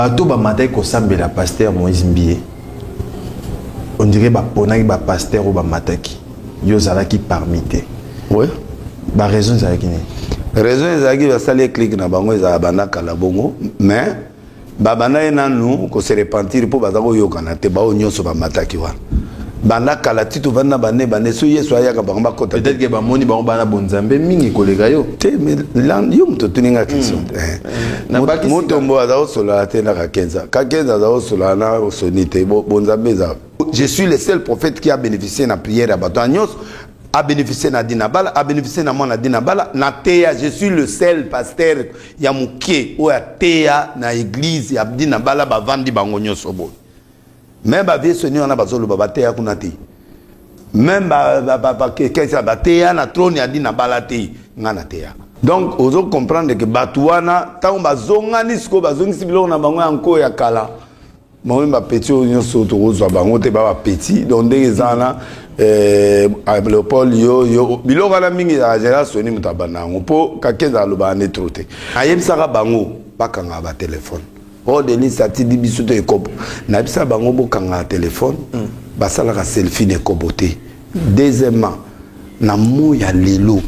bato bamataki kosambela pasteur moïse mbie ondire baponaki bapasteur oyo bamataki yo ozalaki parmi te oui. baraison ezalaki nini raison ezalaki basali eklike na bango ezalaka banda kala bongo mais babanda ye nanu ko se repentir mpo baza koyokana te baoyo nyonso bamataki wana banda kala ti tovandi na bane bane so yesu ayaka bango bakota peut-être ke bamoni bango bana bonzambe mingi koleka yo te yo moto otuni nga question te hmm. eh. eh, motombo aza kosolala te na kakenza kakenza aza kosolala na soni te bonzambe eza je suis le seul prophète qui a bénéficié na prière ya bato ya nyonso a beneficier na Dina Bala, a beneficier na mwana Dina Bala, na teya, je suis le seul pasteur ya mukie oyo ateya na église ya Dina Bala bavandi bango nyonso boye. Même ba vieux soni wana bazoloba bateya kuna te. Même ba ba ba, ba kesa bateya na trône ya Dina Bala te, nga na teya. Donc ozo comprendre que bato wana tango bazongani sikoyo bazongisi biloko na bango ya nko ya kala Mame ba petit oyo nyonso tokozwa bango te ba ba petit donc ndenge eza wana eh, Leopold yo yo biloko wana mingi ya général Sony moto abanda yango mpo Kakenza alobaka nde trop te ayebisaka bango bakangaka ba telefone o oh, Denis atindi biso to ekobo nayebisaka bango bokangaka telefone mm. basalaka selfie na ekobo te Deuxièmement, na mot ya lelo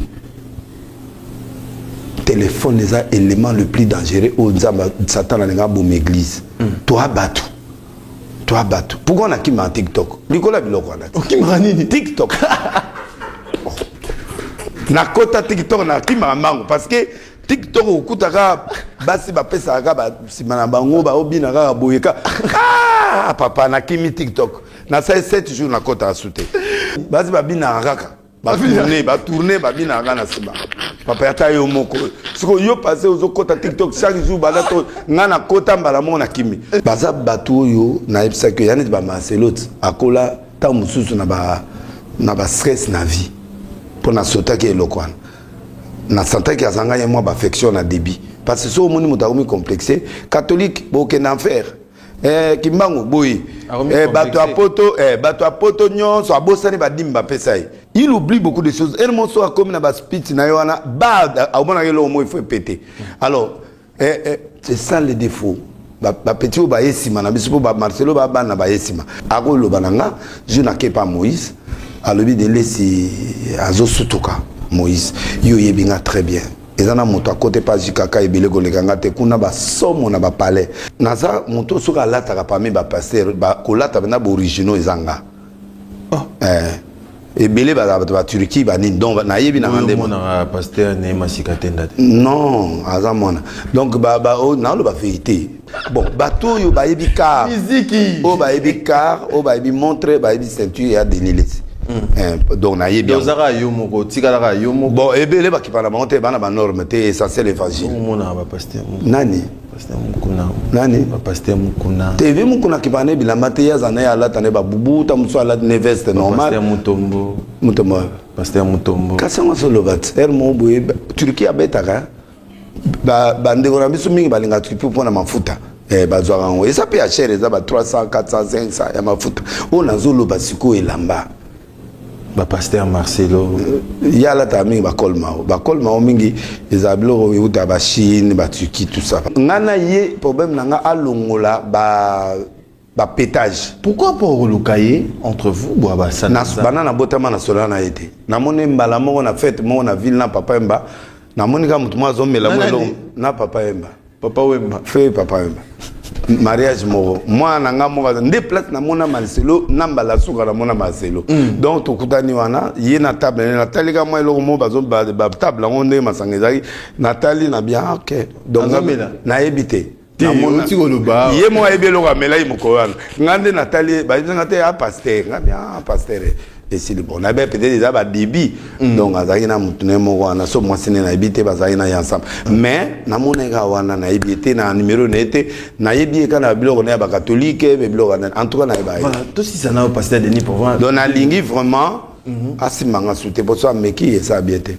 téléphone eza élément le plus dangereux oyo nzambe satan alingi aboma église mm. toa bato toa bato pourkoi nakimaka tiktok likolo ya biloko wana okimaka nini tiktok nakota tiktok nakimaka mbango parce que tiktok okutaka basi bapesaka kaka nsima na bango baobina kaka boye ka ah, papa nakimi tiktok na sai 7 jours nakotaka su te basi babinaka kaka batourne batourne babinaka kaka na nsima papa ata yo moko siko yo pase ozokota tiktok chaque jour baza to ngai nakota mbala moko na kimi baza bato oyo nayebisaki yo ya neti bamacelote akola ntango mosusu na bastress na vie mpo nasotaki eloko wana nasantaki azanga ye mwa baaffection na débit parce que so omoni moto akomi complexe catholique bokende enfer Eh, kimbangu boye eh, bato ya poto eh, bato ya poto nyonso abosani badimi bapesa ye il oublie beaucoup de choses ere monso akomi na baspeech na ye wana ba aomonaka eloko moi fo epete alors eh, eh, c'est ça le défaut bapeti oyo baye nsima na biso mpo bamarcelo babana baye nsima akoloba na nga je nakepa moïse alobi delesi azosutuka moïse yo oyebi nga très bien eza na moto akote pa jikaka ebele koleka nga te kuna basomo na bapalais naza moto soki alataka parmi bapaster kolata mpena baoriginaux eza nga oh. eh. ebele bazala bato ba turquie banini donc nayebi nanga nde non aza mwana donc oh, naoloba verité bon bato oyo bayebi car oyo bayebi car oyo bayebi montre bayebi ceinture ya denilesi hmm. eh, donc nayebi ozaka yo moko otikalaka yo moko bon ebele bakipa na bango te bana banorme te essentiel évangile nani nani tv mokuna akipaka ne bilamba te ye aza na ye alata ne babubu ta mosusu alati ne veste normal mutombo kasi yango soloba ti ere moko boye turki abetaka bandeko na biso mingi balingaka tripi mpo na mafuta eh, bazwaka yango eza mpe ya chere eza ba 300 400 500 ya mafuta oyo nazoloba sikoyo elamba bapaster marcelo eh, ye alataka mingi bakolmao bakolmao mingi ezala biloko euta bachine baturki tout ça ngai na ye problème na ngai alongola ba ba petage pourquoi pas okoluka ye entre vous bwa basana bana na botama na sola na ye te namoni mbala moko na fete moko na ville na papa emba namoni kaka motu moko azomela mo eloko na papa emba papa wemba fe papa wemba mariage moko mwana na ngai moko nde place namona marcelo na mbala suka namona marcelo mm. donc tokutani wana ye na table ne natali ka mwa eloko moko batable yango ndenge masanga ezalaki natali na bien ah, ok donc nayebi te ye moko ayebi eloko amelaki mokolo wana ngai nde natali ye bayebi ngai te ya ah, paster ngai bia ah, paster eh. esili bon na bien peut-être eza badibi mm. donc azalaki na motu ne moko wana so mwasi ne nayebi te bazalaki na ye ensemble mais namonaki kaka wana nayebi ye te na numero na ye te nayebi ye kaka na biloko na ya bakatolike me biloko wana en tout cas nayeba ye tosisa nayo pasteur denis provence donc nalingi vraiment mhm. asimba nga su te mpo so ameki eza bien te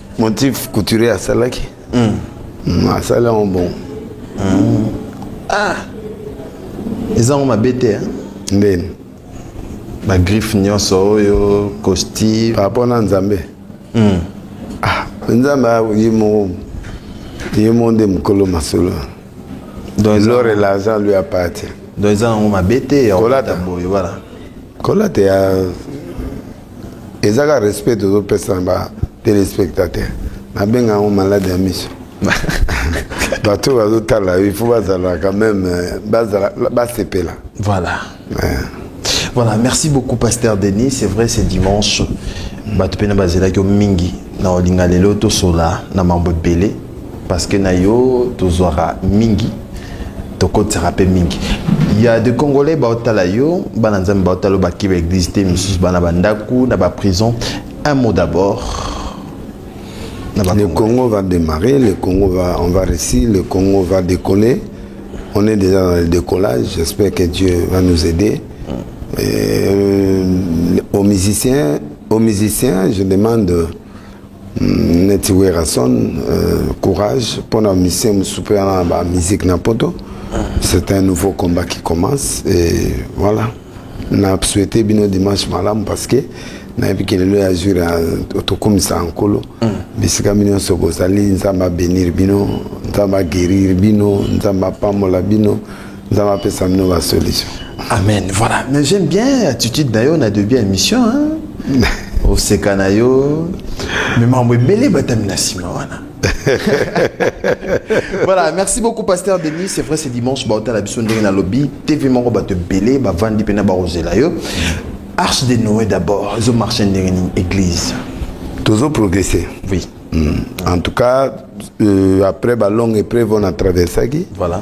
motif couturier asalaki mm. mm, asali yango bongo mm. ah eza yango mabe te ndeni bagriffe nyonso oyo costume par rapport na nzambe mm. ah, nzambe ye moko ye moko nde mokolo masolo l'or et l'argent lui appartient donc eza yango mabe te kolata boye voilà kolata ya eza kaka respect tozopesa na ba téléspectateur nabenga yango malade ya miso bato oyo bazotala il faut bazala quand même euh, bazala basepela voilà ouais. voilà merci beaucoup pasteur denis c'est vrai c'est dimanche bato mpe na bazelaki yo mingi na olinga lelo tosola na mambo ebele parce que na yo tozwaka mingi tokotisaka mpe mingi ya de congolais baotala yo bana nzambe baotala yo bakeba eglise te misusu bana bandako na baprison un mot d'abord le congo va démarrer le congo va on va réussir le congo va décoller on est déjà dans le décollage j'espère que dieu va nous aider mm. Et, euh, aux musiciens aux musiciens je demande Mm, neti Werrason euh, courage mpo na mission mosusu mpe wana na ba musique na poto c'est un nouveau combat qui commence et voilà na souhaite bino dimanche malamu parce que nayebi ke lelo ya jour tokumisa nkolo mm. bisika bino nyonso bozali nzambe abenir bino nzambe agerir bino nzambe apambola bino nzambe apesa bino ba solution amen voilà mais j'aime bien attitude na yo na debut ya émission hein? oseka na yo me makambo ebele batami na nsima wana voilà merci beaucoup pasteur denis c'est vrai c'est dimanche baotala biso ndenge na lobi tv moko bato ebele bavandi mpena bakozela yo arche de noé d'abord ezomarche ndenge nini église tozo progresser oui mm. en tout cas euh, après balongue épreuve on a traversaki voilà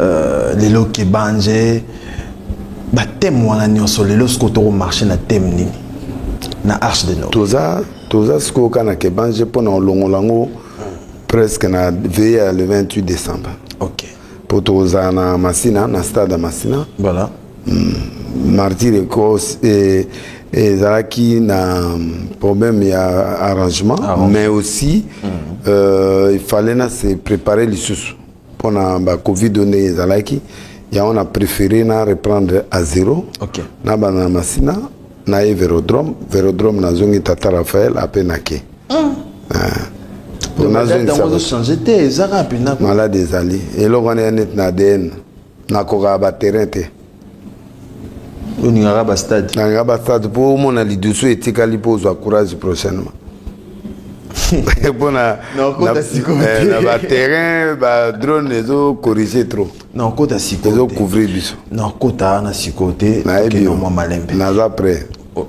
Euh, lelo kebanje bateme wana nyonso lelo sikoyo tokomarche na teme nini na arche de nord toza toza sikoyo ka na kebanje mpo na olongola yango presque na veye ya le 28 décembre ok mpo tokozala na masina na stade ya masina voilà mm, martyr ecos eh, ezalaki na problème ya arrangement, arrangement. mais aussi mm. euh, il fallait na se préparer lisusu pona ba covid oyo ndenge ezalaki yango na préféré na reprendre à zéro okay. na banda na masina na ye vérodrome vérodrome nazongi tata raphaël ape nake mm. ah. nazongisaozochanger te ezaka mpenza malade ezali eloko wana ya neti na adn nakokaka baterrain te olingaka ba stade nalingaka ba stade mpo omona lidusu etikali mpo ozwa courage prochainement mpo na eh, baterrain badrone ezocorrige trop nakota sikoyo ezocouvrir biso nakota na sikoyo te nayebi yo mwa malembe naza prêt oh,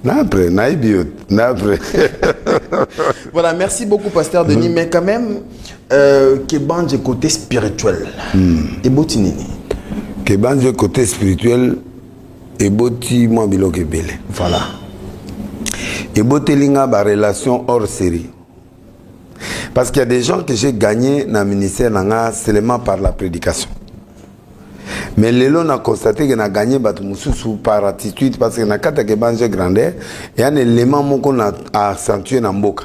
Napre, naïbiot, napre. voilà, merci beaucoup, Pasteur Denis. Mm. Mais quand même, Euh, Kebanje côté spirituel. Hmm. Eboti nini? Kebanje côté spirituel eboti mwa biloko ebele. Voilà. Eboteli nga ba relation hors série. Parce qu'il y a des gens que j'ai gagné dans le ministère nanga seulement par la prédication. Mais lelo na constaté que na gagné bato mususu par attitude parce que na kata ke banje grandeur, il y a un élément moko na accentuer na mboka.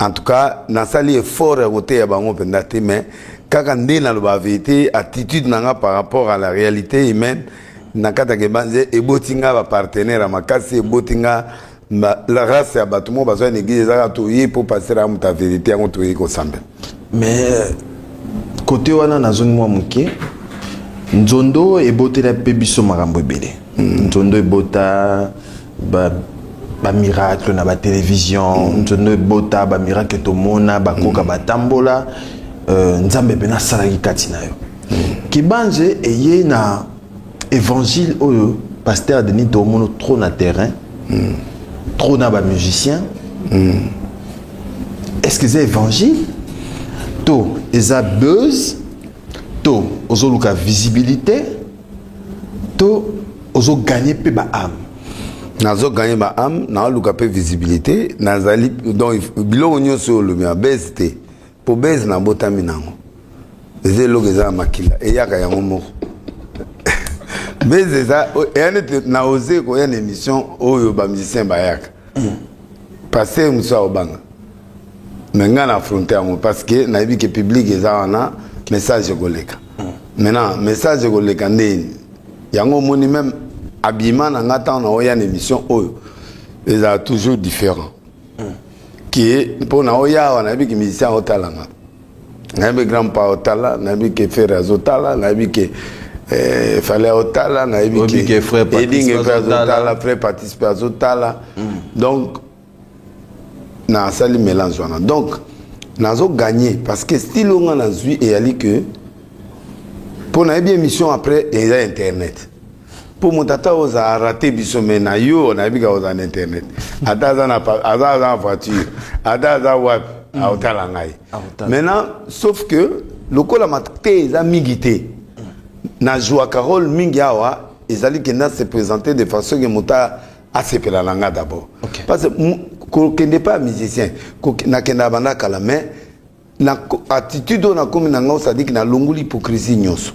en tout cas nasali effort ya koteya bango mpenza te mais kaka nde naloba verité attitude na nga par rapport à la réalité humaine na kati ya kebanze eboti nga bapartenaire ya makasi eboti nga la race ya bato moko bazwa na eglise ezaka toye mpo pastere ya moto ya verité yango toyei kosambela mais kote wana nazongi mwa moke nzondo ebotela mpe biso makambo ebele hmm. nzondo ebota ba ba miracle na ba télévision mm. nzondo ebota ba miracle tomona bakoka mm. batambola euh, nzambe mpe nasalaki kati na yo mm. kibanze eye na évangile oyo pasteur denis tomono trop na terrain mm. trop na ba musicien mm. est ce que eza évangile to eza buzz to ozoluka visibilité to ozo gagner pe ba âme nazo gagner ba âme na luka pe visibilité nazali donc biloko nyonso olobi ya base te po base na botami nango eza eloko eza na makila eyaka yango moko base eza eya nete na ose koya na émission oyo ba musicien bayaka mm. paster mosusu aobanga mais ngai na affronte yango parce que nayebi ke public eza wana message ekoleka hmm. maintenant message ekoleka ndeni yango omoni meme abima na ngai ntango naoya na émission oyo ezala toujours différent hmm. ke mpo naoya awa nayebi ke musicien aotala ngai nayebi grand pa otala nayebi ke fere azotala nayebi ke eh, fale aotala nayebi ke edinge mpe azotala fre participe azotala hmm. donc na sali melange wana donc nazo gagner parce que style onga na zui et ali que pour na bien mission après les internet pour mon tata aux a raté biso mais na yo na bika aux en internet ata za na aza za voiture ata za wap hmm. a otala ngai maintenant sauf que lokola maté za migité na joua carole mingi awa ezali que na se présenter de façon que mota asepela na nga d'abord okay. parce kokende pa musicien nakendaka banda kala mais na attitude oyo nakomi na ngai osadiki nalongoli hypocrisie nyonso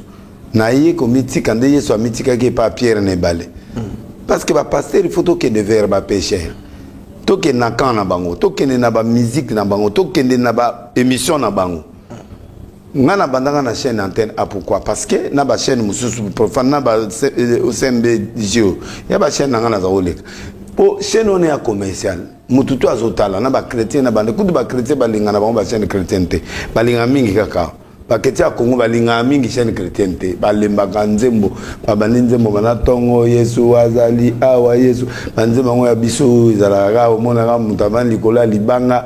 naye komitika nde yesu amitikaki epa pierre na ebale mm. parce que bapaster il faut tokende vers bapesher tokende na camp na bango tokende na bamusike na bango tokende na baémission na bango nga na bandanga na chaîne antenne a ah, pourquoi parce que na ba chaîne mususu profane na ba OCMB euh, Gio ya ba chaîne nanga naza koleka po chaîne on est ya commercial mutu to azotala na ba chrétien na bande kutu ba chrétien balingana bango ba chaîne chrétienne te balinga mingi kaka baketi ya kongo balingaka mingi chaîne chrétienne te balembaka nzembo babandi nzembo bana ntongo yesu azali awa yesu banzembo yango ya biso ezalaka kaka omonaka moto avandi likolo ya libanga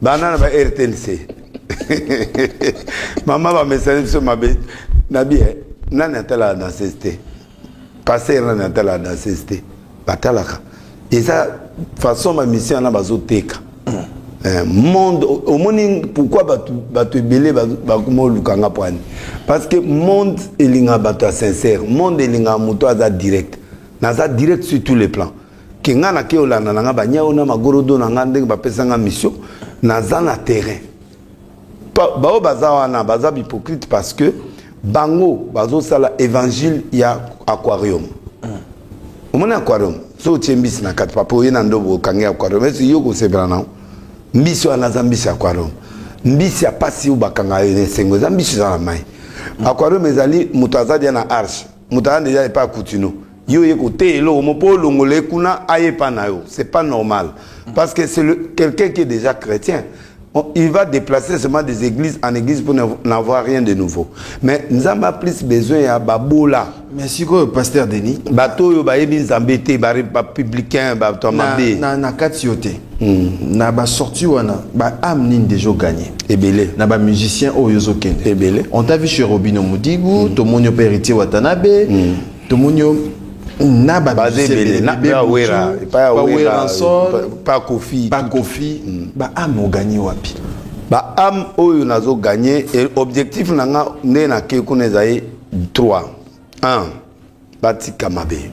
bana na ba rtnc mama bamesani biso mabe na bie nani atalaka danseuse te paster nani atalaka danseuse te batalaka eza façon bamisio wana bazoteka eh, monde omoni pourquoi bato ebele bakoma oluka nga pwani parce que monde elingaka bato ya sincère monde elingaka moto aza direct naza direct sur tous les plans ke nga na ke olanda na nga banyao na magorodo na nga ndenge bapesa nga mission naza na terrain baoyo baza wana baza bipocrite parce que bango bazosala évangile ya aquarium omoni aquarium soki otie mbisi na kati papa oye na ndobo okangi aquarium esi yo kosepela nango mbisi wana aza mbisi aquarium mbisi ya mpasi oyo bakanga yo na esengo eza mbisi eza na mai aquarium ezali moto aza dia na arche moto aza deja epai ya kutino Yo ye kote eloko mo po longola ye kuna aye pa na yo c'est pas normal parce que c'est quelqu'un qui est déjà chrétien il va déplacer seulement des églises en église pour n'avoir rien de nouveau mais nzambe a plus besoin ya babola mais sikoyo pasteur denis bato oyo bayebi nzambe te bapublicain bato ya mabe na kati yo te hmm. na basorti wana baame nini deja ogagne ebele na bamusicien oyo ozokende ebele on t'a vu chez robino modigu hmm. tomoni yo mpe héritier watanabe hmm. tomoni yo na baweransopakofi baame oganye wapi baame oyo nazo ganye objectif na nga nde nake kuna ezali 3 1 batika mabe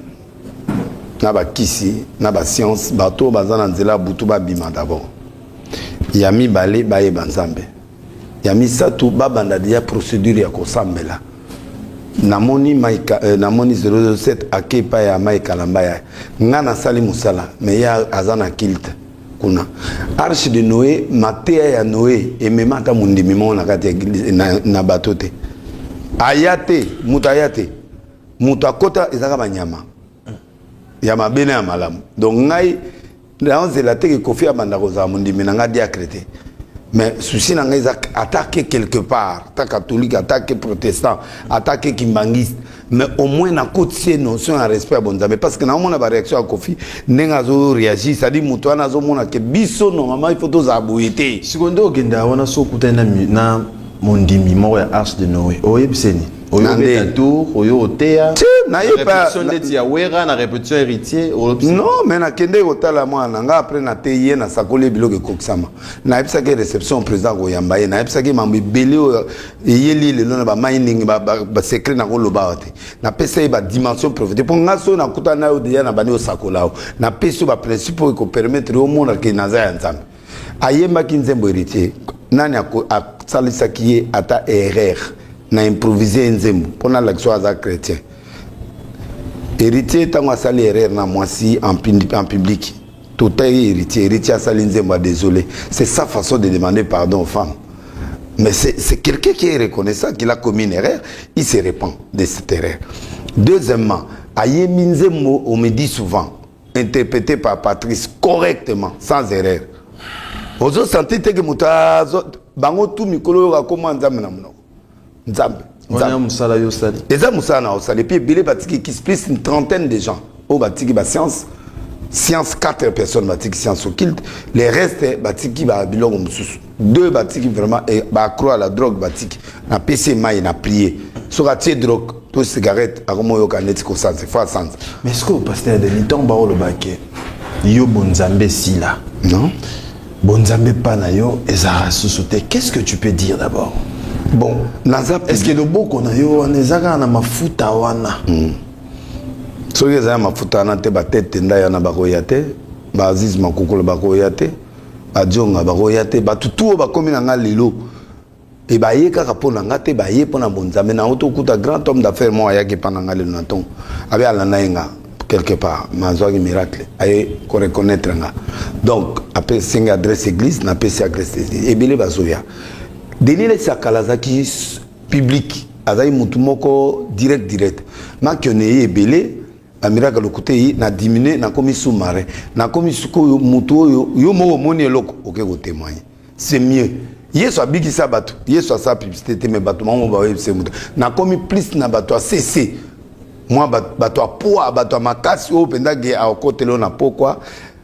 na bakisi na basianse bato oyo baza na nzela ya butu babima dabord ya mibale bayeba nzambe Ya misatu ba banda deja procedure ya kosambela. Namoni Mike euh, namoni 007 ake epai ya Mike Kalamba ya nga nasali mosala mais ye aza na kilte kuna. Arche de Noe, mateya ya Noe emema ata mondimi moko na kati na, na bato te. Aya te, moto aya te. Moto akota ezaka banyama ya mabe na ya malamu. Donc ngai Nao zela te ke Kofi abanda kozala mondimi na nga diacre te. Mais souci na nga eza attaquer quelque part, ta catholique, attaquer protestant, attaquer kimbangiste, mais au moins na kotisi notion ya respect ya bonzambe parce que naomona ba réaction ya Kofi ndenge azo réagir, c'est-à-dire moto wana azomona ke biso normalement il faut tozala boye te. Sikoyo nde okenda wana so okutani na mondimi moko ya Arche de Noe oyebiseni? oyo beta tour oyo oteya répétition ndeti ya wera na répétition héritier non mais nakendeki kotala mwana na ngai après nateyi ye nasakoli ye biloko ekokisama nayebisaki réception président koyamba ye nayebisaki mambo ebele oyo eyeli lelo na bamainingi basecret nakoloba wa te napesa ye badimension profite mpo ngai soki nakutana na yo deja na bandi osakola yo napesi yo baprincipe oyo ekopermettre yo omonake naza ya nzambe ayembaki nzembo héritier nani asalisaki ye ata erreur na improvise ye nzembo mpo nalakisa aza chrétien héritier ntango asali erreur na mwasi en public totaye héritier héritier asali nzembo ya désolé c'est sa façon de demander pardon aux femmes mais c'est quelqu'un qui est reconnaissant qu'il a commis une erreur il se répand de cette erreur deuxièmement ayembi nzembo on me dit souvent interprété par Patrice correctement sans erreur ozo sentir te que moto azo bango tu mikolo oyo akoma nzambe na monoko nzambe wana mosala yo osali eza mosala na osali epuis ebele batiki kisi plus une trentaine de gens oyo batiki bascience science 4 personnes batiki science occulte les restes batiki ba biloko mosusu deux batiki vraiment eh, ba accro à la drogue batiki na pc mai na prier soki atie drogue to cigarette akomoyoka neti kosanza fo asanza mais ce que pasteur denis ntango baolobake yo bonzambe esila non bonzambe epa na yo ezalaka susu te qu'est ce que tu peux dire d'abord bon naza est ce que loboko na yo wana eza kaka na mafuta wana mm. soki eza ya mafuta wana te batete ndai wana bakoya te baaziz makukulu bakoya te Badjonga bakoya te bato tuo bakomi na nga lelo e baye kaka mpo na nga te baye mpo na bonzambe na yango tokuta grand homme d'affaire moko ayaki mpa na nga lelo na ntongo abe alanda ye nga quelque part nazwaki miracle aye koreconnaitre nga donc apesi nga adresse église napesi adresse église ebele bazoya denis lesakala azalaki publique azalaki motu moko direct direct makione ye ebele na miracle lokuta eyi na diminue nakomi sous marin nakomi sikoyo motu oyo yo moko omoni eloko oke kotemoigne c'est mieux yesu abikisa bato yesu asala publicité te me bato bango bayebisa moto nakomi plus na bato ya sese mwa bato ya poa bato ya makasi oyo mpenza ge akotela oyo na pokwa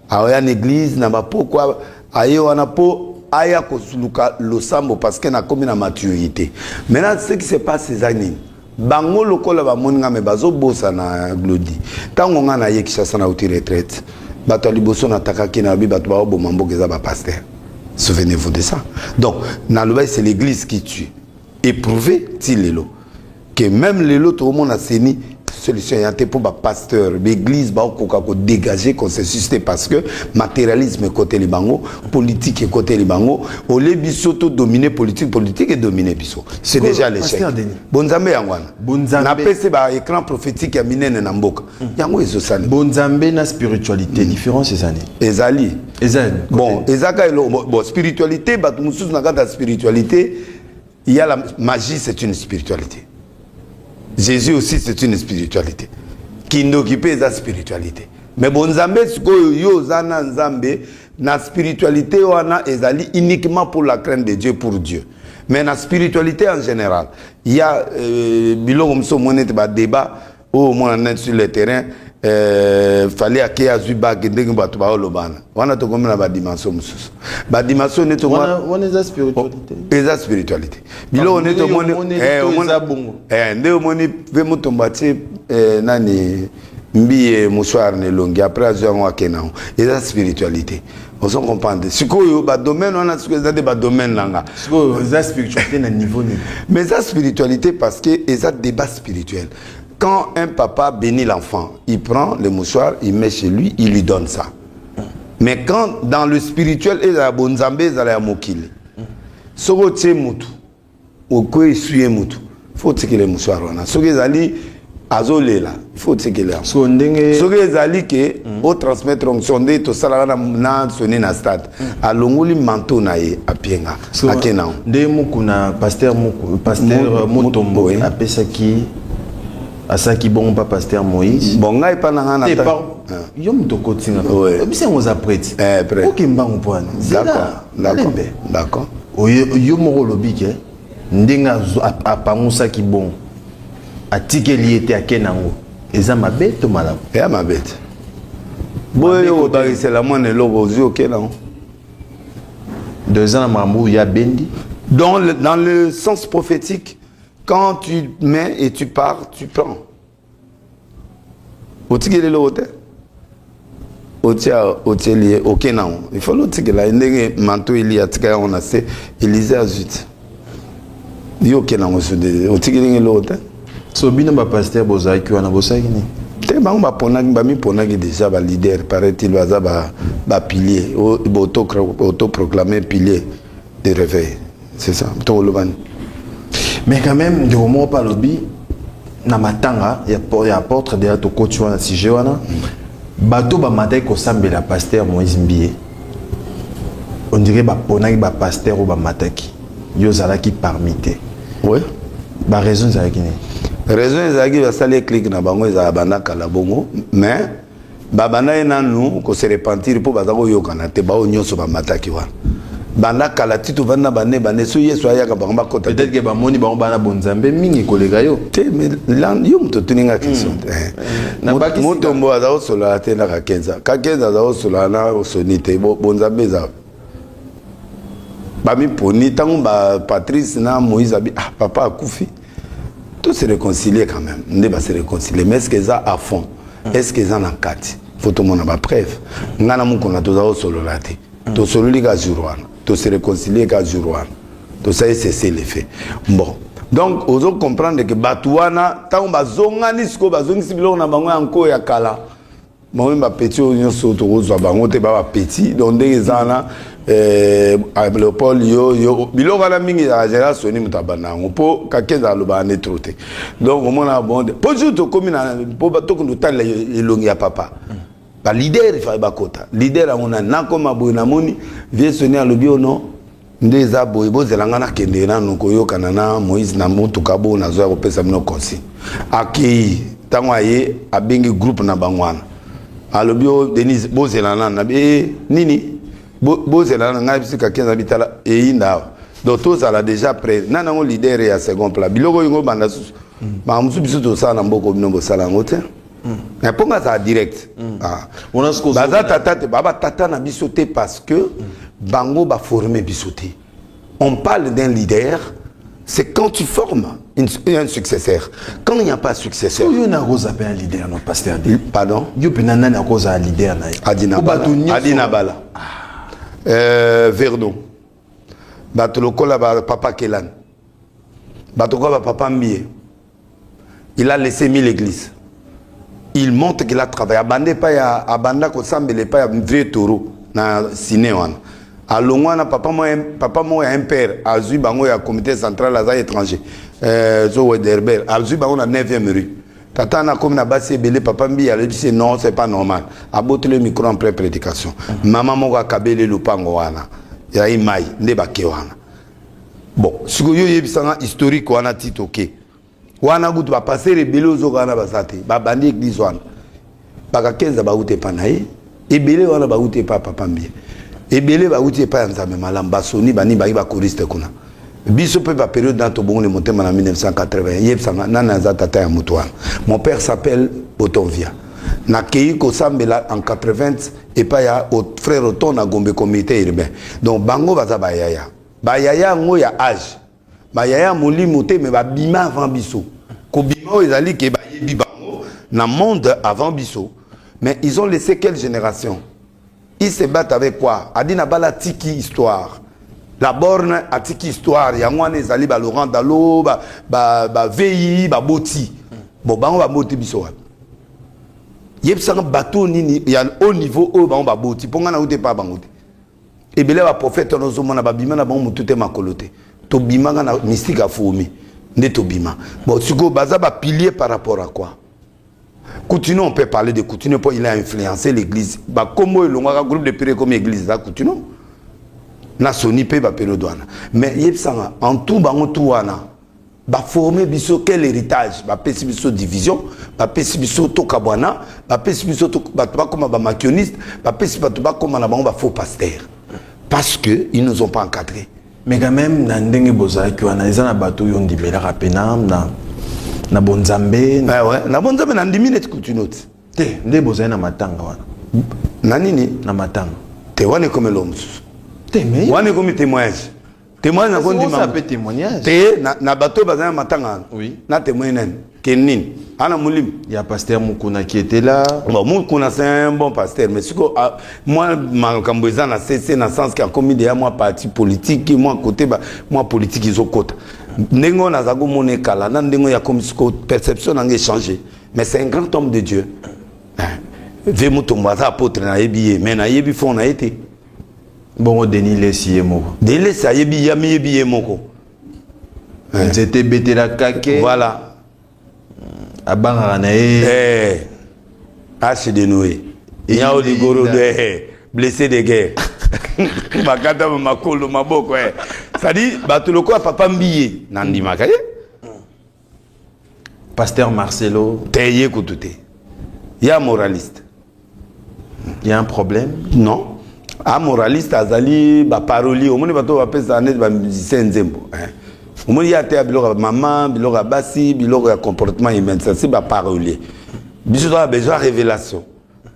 aoya na eglize na bapokwa aye wana mpo aya koluka losambo parce que nakomi na maturité maintenant ce qui se passe eza nini Bango lokola bamoni nga me bazo bosana Glody. Tango nga na ye Kinshasa na uti retraite, bato ya liboso na takaki na bi bato bao boma mboka eza ba pasteur. Souvenez-vous de ça. Donc na lobai c'est l'église qui tue. Éprouvé ti lelo que même lelo to mona seni solution ya te mpo bapasteur baeglise baokoka kodégage consensus te parce que matérialisme ekoteli bango politique ekoteli bango olie biso to domine politique politique edomine biso c'est déjà l'échec bonzambe yango wana napesi ba écran prophétique ya minene na mboka hmm. yango ezosali bonzambe na spiritualité hmm. différence ezali ezali ezali bon ezaka elo bon spiritualité bato mosusu na kati ya spiritualité Il y a la magie, c'est une spiritualité. Jésus aussi, c'est une spiritualité. Kindoki pe eza spiritualité. Mais bon Nzambe sikoyo yo zana Nzambe na spiritualité wana ezali uniquement pour la crainte de Dieu pour Dieu. Mais na spiritualité en général, il y a euh, biloko mso monete ba débat oyo oh, mwana nani sur le terrain eh, fali ake azwi bage ndenge bato baolobana wana tokomi na badimension mosusu badimension neti oh, eza spiritualité biloko neti omoni nde omoni mpe motombo atie nani mbiye mosoir na elongi après azwi yango ake nango eza spiritualité ozo comprendre sikoyo badomaine wana sikoyo eza nde badomaine na nga sikoyo eza spiritualité na niveau nini mais eza spiritualité parce que eza débat spirituel quand un papa bénit l'enfant il prend le mouchoir il met chez lui il lui donne ça mais quand dans le spirituel ezala bonzambe ezala ya mokili soki otie mutu okoki eswi ye motu fo otikela ye mosuare wana soki ezali azolela fo otikela yango ndenge soki ezali ke mm. otransmettre onction nde tosalaka na, na soni na stade mm. alongoli manteau na ye apienga so, ake nango nde muku na paster muku paster motombo apesaki asalaki bongo mpa paster moïse bon ngai epa na ngai na eh, yo moto okotinga obisa yango oza prete eh, okembango mpo wana malembe d'accord yo moko olobi ke ndenge apangusaki bongo atikeli ye te ake nango eza mabe to malamu eya mabe te boye obakisela mwana eloko ozwi oke nango donc eza na makambo oyo ya bendi donc dans le sens prophétique quand tu mets et tu pars tu prends otikeli eloko te otia otieli ye oke na yango ifali otikela ye ndenge manto eli atika yango na se elize azwi ti yo oke na yango sudeli otikeli nge eloko te so bino bapaster bozalaki wana bosalaki nini te bango baponaki bamiponaki déjà baleader paraît-il baza bapilier autoproclame pilier de réveil c'est ça to loban mais quand même de moko pa lobi na matanga ya ya apôtre de to coach wana sujet wana bato ba matai ko sambela pasteur Moïse Mbiye on dirait ba ponaki ba pasteur ou ba mataki yo zalaki parmi te ouais ba raison zalaki ni raison ezalaki basali clique na bango ezala banda kala bongo mais babanda ye nanu ko se repentir mpo baza koyokana te baoyo nyonso bamataki wana banda kala ti tovandi na bane bane so yesu ayaka bango bakota peut-être ke bamoni bango bana bonzambe mingi koleka yo te mais yo moto otuni nga question te hmm. eh. motombo aza kosolola te na kakenza kakenza aza kosolola na soni te bonzambe eza bamiponi ntango ba patrice na moïse abi ah papa akufi tout se réconcilier quand même nde ba se réconcilier mais est-ce que ça à fond mm. est-ce que ça na kati faut tout monde ba preuve nga na mukona toza au solo là te mm. to solo li ka jour wana to se réconcilier ka jour wana to ça c'est c'est le fait bon donc ozo comprendre que batu wana tango bazongani siko bazongisi biloko na bango ya nko ya kala Mame ba petit oyo nyonso tokozwa bango te ba ba petit donc ndenge eza wana eh, Leopold yo yo biloko wana mingi ezalaka general soni moto abanda yango mpo kakenza alobaka nde tro te donc omonaka bongo te mpo jour tokómi na mpo tokende otalela elongi ya papa balider efai bakota lider yango nani nakoma boye namoni vie soni alobi ono oh nde eza boye bozela nga nakende nanu koyokana na moïse na motuka bo nazoya kopesa bino consigne akei ntango aye abengi groupe na bango wana alobi o oh, denise bozela nanu nabi e eh, nini bozela nanu ngai bisika kenza bitala eyinda awa donc tozala déjà près nani yango leader ya second plat biloko oyo ngobanda susu makambo mosusu biso tosala na mboka bino bosala yango te na mpo nga azala direct mm. ah. baza tata te baba tata na biso te parce que mm. bango baforme biso te on parle d'un leader c'est quand tu formes une, un successeur quand il n'y a pas successeur oyo na akozapa un leader notre pasteur de pardon yo mpena nani akozala leader na ye adinabala ah. euh, verno bato lokola ba papa kelani Bato kaka papa Mbie. Il a laissé mille églises. Il montre qu'il a travaillé. Abanda epai ya abanda kosambela epai ya vieux taureau na sine wana. Alongwa na papa moko papa moko ya impère azwi bango ya comité central aza étranger. Euh, zo Wederber azwi bango na 9e rue. Tata na komi na basi ebele papa mbi alebisi non c'est pas normal. Abotele micro en pleine prédication. Maman moko akabeli lupango wana. Ya imai nde bake wana. Bon, siko yo yebisa nga historique wana ti toke. Wana kutu ba passer ebele ozoka wana baza te. Ba bandi église wana. Baka kenza ba ute pa na ye. Ebele wana ba ute pa papa mbie. Ebele ba ute pa ya nzambe malam ba soni ba ni ba ba choriste kuna. Biso pe ba période na tobongo le motema na 1980. Yebisa nga nani aza tata ya mutu wana. Mon père s'appelle Botonvia. Na keyi ko sambela en 80 epai ya frère oton na gombe comité urbain donc bango baza bayaya bayaya yango ya age bayaya molimo te me babima avant biso kobima oyo ezali ke bayebi bango na monde avant biso mais ils ont laissé quelle génération ils se battent avec quoi adi na bala tiki histoire la borne atiki histoire yango wana ezali ba laurent dalo bavei ba, ba baboti bon bango baboti biso wapi yebisa nga bato oyo nini ya haut niveau oyo bango baboti mpo ngai nauti epai bango te ebele ya baprofete wana ozomona babima na bango motu te makolo te tobimaka na mystique ya fourmi nde tobima bon sikoyo baza bapilier par rapport à quoi Coutinho, on peut parler de Coutinho, pour il a influencé l'église. Bah, comme il a groupe de pire comme l'église, là, Coutinho. Na Sony pe ba pelo douane. Mais yebsanga, en tout bango tout wana. ba former biso quel héritage ba pesi biso division ba pesi biso toka bwana ba pesi biso ba ba koma ba makioniste ba pesi ba ba koma na bango ba faux pasteur parce que ils nous ont pas encadré mais quand même na ndenge bozalaki wana eza na bato oyo ondimelaka pena na na bonzambe na eh ouais na bonzambe na ndimi neti kutunoti te nde bozali na matanga wana na nini na matanga te wana ekomelo mosusu te mais wana ekomi témoignage Témoigne na kondi ma pe témoignage. Te na na bato bazana matanga. Oui. Na témoigne nani? Kenin. Ana mulim. Ya pasteur Mukuna qui était là. Bon Mukuna c'est un bon pasteur mais siko ah, moi makambo eza na CC na sens ka komi de moi parti politique moi côté ba moi politique izo kota. Ndenge on aza ko mona kala na ndenge ya komi siko perception na ngai changer. Mais c'est un grand homme de Dieu. Ve mutombo aza apôtre na yebi ye mais na yebi fond na ye te. bongo denis lesi ye moko denis lesi ayebi ye amiyebi ye moko eh. nzete ebetelaka ke voilà abangaka na ye eh. ase de noe nyao ligoro de eh, blessé de guerre bakata makolo maboko eh. sadi bato lokola papa mbiye nandimaka ye Pasteur Marcelo, t'es ye kutu te. Ya moraliste. Il y a un problème Non. A moraliste azali ba parolier. Omoni bato ba pesa net ba musicien nzembo. Hein. Omoni ya te biloko ya maman, biloko ya basi, biloko ya comportement humain. Ça c'est ba parolier. Biso a besoin révélation.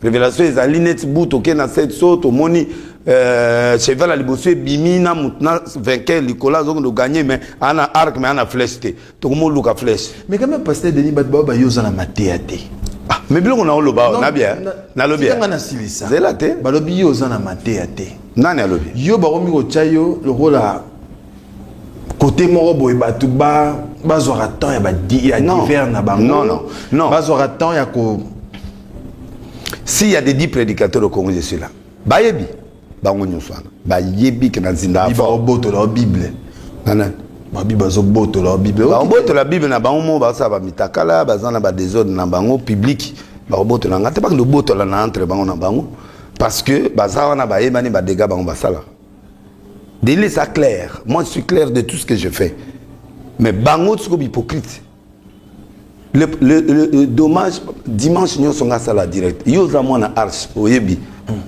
revelation ezali neti bu toke na set so tomoni euh, cheval ya liboso ebimi na motu na vainqueur likolo azokende oganye mais ana arc mais ana flèche te tokomi oluka flèche mais quand même pasteur denis bato bao bayo oza na mateya te ah, mais biloko na oloba na bia nalobi nga nasilisa zela te balobi yo oza na mateya te nani alobi yo bakomi kotya yo lokola kote moko boye bato bazwaka temps ya badiver na bango bazwaka temps ya ko si ya de dix prédicateur au congo je suis là bayebi bango nyonso wana bayebi ke na nzinda baobotola o bible nana babi bazobotola o bible baobotola bible na bango moko basala bamitakala baza na badesordre na bango publike baobotola nga te bakende obotola na entre bango na bango parce que baza wana bayebani badega bango basalaka Deli eza clair moi je suis clair de tout ce que je fais mais bango siko bihypocrite le, le, le, le dommage dimanche nyonso nga asala direct yo oza mwana arche oyebi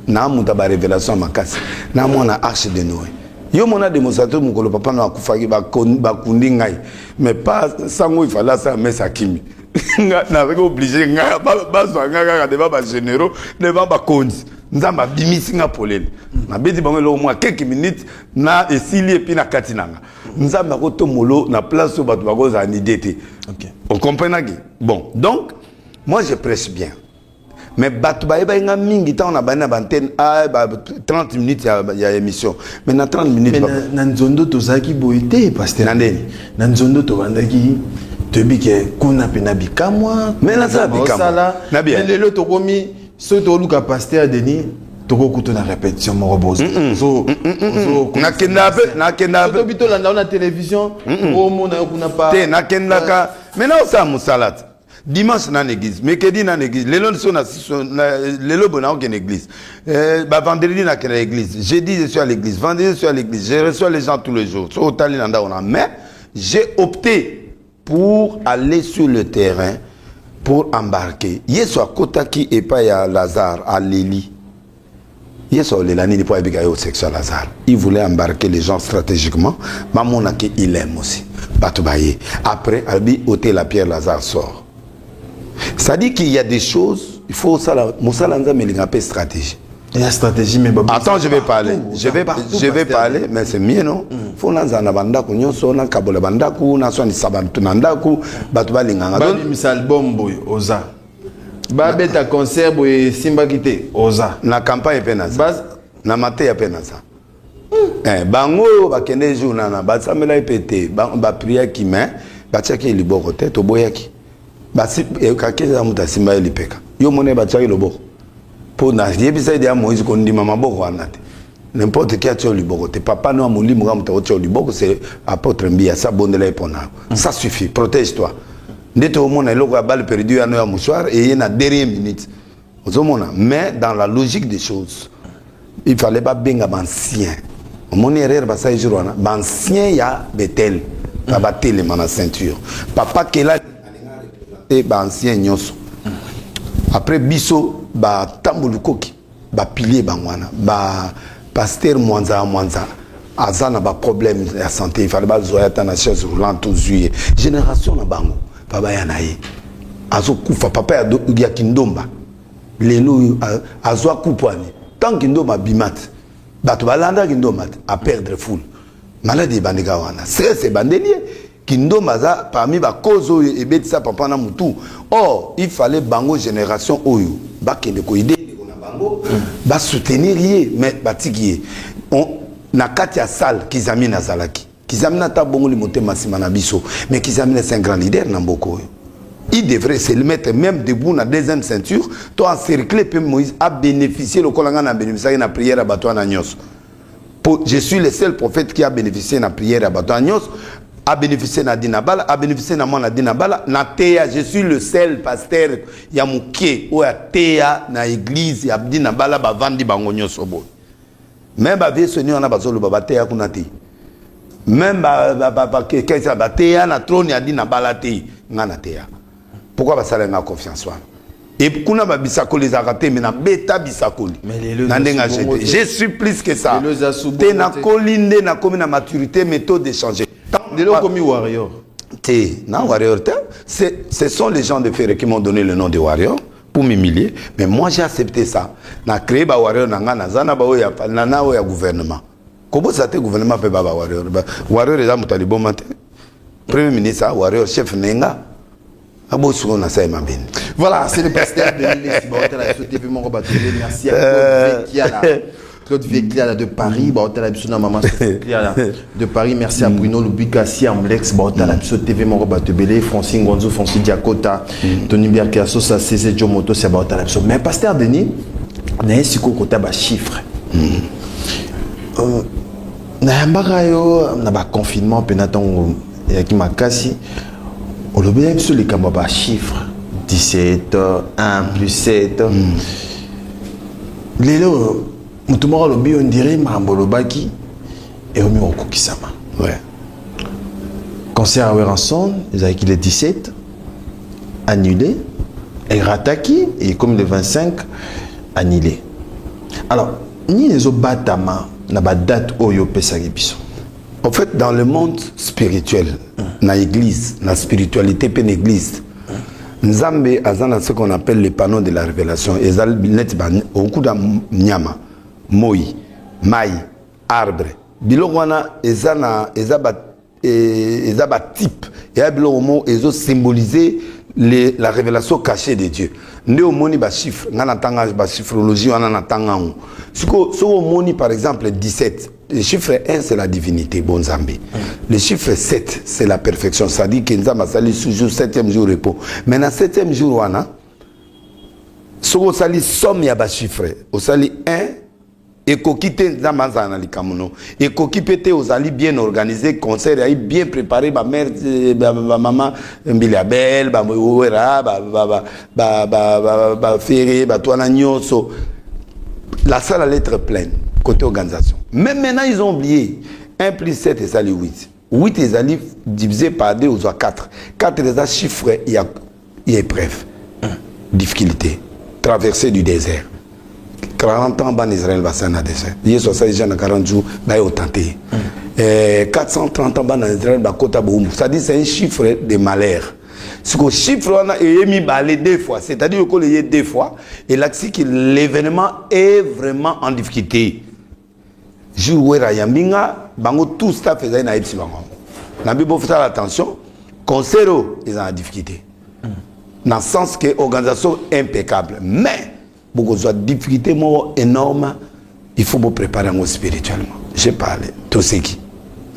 na moto ya barévélation ya makasi na mwana arche de noe yo mona demonstrateur mokolo papa no akufaki bakundi ngai mais pas sango ifale asala mesa akimi nazaki oblige ngai bazwa ngai kaka devant bagénéraux devant bakonzi nzambe abimisi nga polele nabeti bango eloko mwa keke minute na esili epi na kati nanga nzambe akotomolo na place oyo bato bakozala na idee te ocomprenaki bon donc moi je prêche bien mais bato bayebaki nga mingi ntango nabandi na bantene a 30 minutes ya, ya émission mais na 30 minutes na, na nzondo tozalaki boye te paster na ndeni na nzondo tobandaki toyebi ke kuna mpe na bikamwa me nasala bikamwa lelo tokomi soki toluka pasteur denis tokokuta na répétition moko bozonakendaka mpe nakendaka mpe tobi tolanda yo na télévision omona yo kuna pa te nakendaka mai na osala mosala te dimanche na na église mercredi na na église lelo so na lelo boye naoke na église euh, ba vendredi na kenda église jeudi je suis à l'église vendredi je suis à l'église je reçois les gens tous les jours so otali na ndako na mais j'ai opté pour aller sur le terrain pour embarquer yesu akotaki epai ya lazare aleli yesu aolela nini mpo ayebika ye osexe ya lazare il voulait embarquer les gens stratégiquement bamonaki il aime aussi bato baye après alobi otela pierre lazare sort C'est-à-dire qu'il y a des choses, il faut ça, Moussala Nzambe, il y a une stratégie. Il y a stratégie, mais Baba. Attends, je vais parler. Je vais, je vais parler, mais c'est mieux, non mm. Faut na zana bandaku, nyonso na kabola bandaku, na swani sabantu na ndaku, batu ba linganga. Ba bimisa album boy, oza. Ba beta concert boy, simba kite, oza. Na campagne pe na za. Na mate ya pe na za. Eh, bango oyo bakendeki jour nana basambelaki mpe te bapriaki me batiaki ye liboko te toboyaki eh, kakeza moto asimba ye lipeka yo omoni ye batiaki loboko mpo nayebisaki deya moïse kondima maboko wana te n'importe qui atia liboko te papa no ya molimo kaka moto akotia liboko se apôtre mbiya sa abondela ye mpo na yo ça suffit protège toi nde toomona eloko ya bale perdu yano ya mosoir eye na dernier minute ozomona mais dans la logique des choses il fallait babenga baancien omoni erreur basali jour wana baancien ya betel na batelema na ceinture papa kela te baancien nyonso après biso batamboli koki bapilie bango wana ba Pasteur Mwanza ya Mwanza aza na ba problème ya santé il fallait bazwa ya tana chaise roulante tozwi ye génération na bango pa baya na ye azokufa papa ya, ya kindomba lelo oyo azwa kupwani tant kindomba abima te bato balanda kindomba te aperdre foule maladi ebandika wana stress ebandeli ye Kindoma aza parmi ba cause oyo ebetisa papa na mutu. Or, il fallait bango generation oyo bakende ko aider ndeko na bango, ba soutenir ye mais batiki ye. On, na kati ya salle Kizamina azalaki. Kizamina ata abongoli motema sima na biso, mais Kizamina c'est un grand leader na mboka oyo. Il devrait se le mettre même debout na deuxième ceinture, to encercler pe Moïse a beneficier lokola nga na beneficiaki na prière ya batu wana nionso. po je suis le seul prophète qui a bénéficié na prière ya bato wana nyonso a bénéficié na dina bala a bénéficié na mwana dina bala na teya je suis le seul pasteur ya moke oyo ateya na église ya dina bala bavandi bango nyonso boye meme bavie soni wana bazoloba bateya kuna te meme bateya na trone ya dina bala te ngai nateyaka pourquoi basala nga confiance wana et kuna babisakoli ezalaka te me nabeta bisakoli na ndenge ajete je suis plus que ça te nakoli nde nakomi na maturité mais taux d'échange lelo okomi warrior te na warrior te ce sont les gens de ferre qui m'ont donné le nom de warrior pour m'humilier mais moi j'ai accepté ça na créé ba warrior na nga naza na baoyo ya nana oyo ya gouvernement Kobosa te gouvernement pe baba warrior. Ba warrior eza moto liboma te. Premier ministre a warrior chef nenga. Abo suko na sai mabini. Voilà, c'est le pasteur de l'Est. Bon, la TV mon combat. Merci à euh, Claude Kiala. Claude Vécliala de Paris, bah, la biso na maman Vécliala de Paris, merci à mm. Bruno Lubika, Siam Lex, bah, la mm. biso TV Moro Batebele, Francine Gonzo, Francine Diakota, mm. Tony Biarkiasso, ça c'est Jomoto, c'est bah, la biso. Mais pasteur Denis, n'a pas si kota ba chiffre. Euh, nayambaka yo na baconfinement mpena ntango eyaki makasi olobela biso likambo ya bachiffre 17 1 plus 7 mm. lelo moto moko alobi yo ndire makambo olobaki ekomi kokokisama ouais. concert ya weranson ezalaki le 17 annulé erataki ekomi le 25 annulé alors Nini ezo batama na ba date oyo opesaki biso? En fait, dans le monde spirituel, na église, na spiritualité pe na église, Nzambe aza na ce qu'on appelle le panneau de la révélation. Eza net ba okuta nyama, moi, mai, arbre. Biloko wana eza na eza ba Et, eza ba type ya biloko mo ezo symboliser les, la révélation cachée de Dieu nde omoni ba chiffre nga na tanga ba chiffrologie wana na tanga ngo siko soko omoni par exemple 17 le chiffre 1 c'est la divinité bon Nzambe le chiffre 7 c'est la perfection ça dit que Nzambe asali toujours 7e jour repos mais na 7e jour wana soko osali somme ya ba chiffre osali 1 ekoki te nzambe azala na likambo no ekoki mpe te ozali bien organise concert yai bien prépare bamare eh, bamama eh, mbili ya bele bawera bafere bato wana nyonso la salle allait être pleine côté organisation mais maintenant ils ont oublié 1 plus 7 ezali 8 8 ezali divisé par 2 ozwa 4 4 eza chiffre ya ya epreuve difficulté traversée du désert 40 ans bana israel basali na désert yesu asali jean na 40 jours baye otante ye mm. eh, 430 ans bana israel bakota boumbu c'est-à-dire c'est un chiffre de malheur siko chiffre wana eye mibale deux fois c'est-à-dire okola eye deux fois elakisi que l'événement est vraiment en difficulté jour wera ayambi nga bango tout staff ezali na yebisi bango yango na mbi bofutala attention concert oyo eza na difficulté na sens que organisation impeccable mais bokozwa difficulté moko énorme il faut bopréparer yango spirituellement j'ai parlé toseki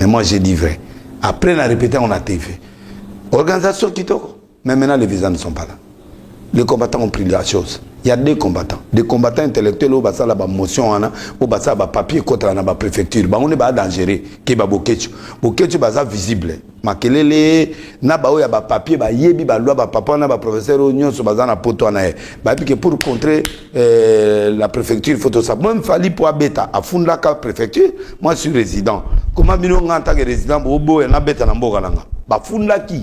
mais moi j'ai dit vrai après na répété yango na tv organisation kitoko Mais maintenant, les visas ne sont pas là. Les combattants ont pris la chose. Il y a deux combattants. Des combattants intellectuels au basa la motion ana, au basa ba papier contre la préfecture. Ba on est ba dangereux. Qui ba boketchu. Boketchu basa visible. Makelele na ba ya ba papier ba yebi ba loi ba papa na ba professeur au nyon so basa na poto ana. Ba pique pour contrer euh, la préfecture photo ça. Moi fali pour beta à fond la préfecture. Moi je suis résident. Comment bino nganta que résident bobo na beta na mboka nanga. Ba funda qui?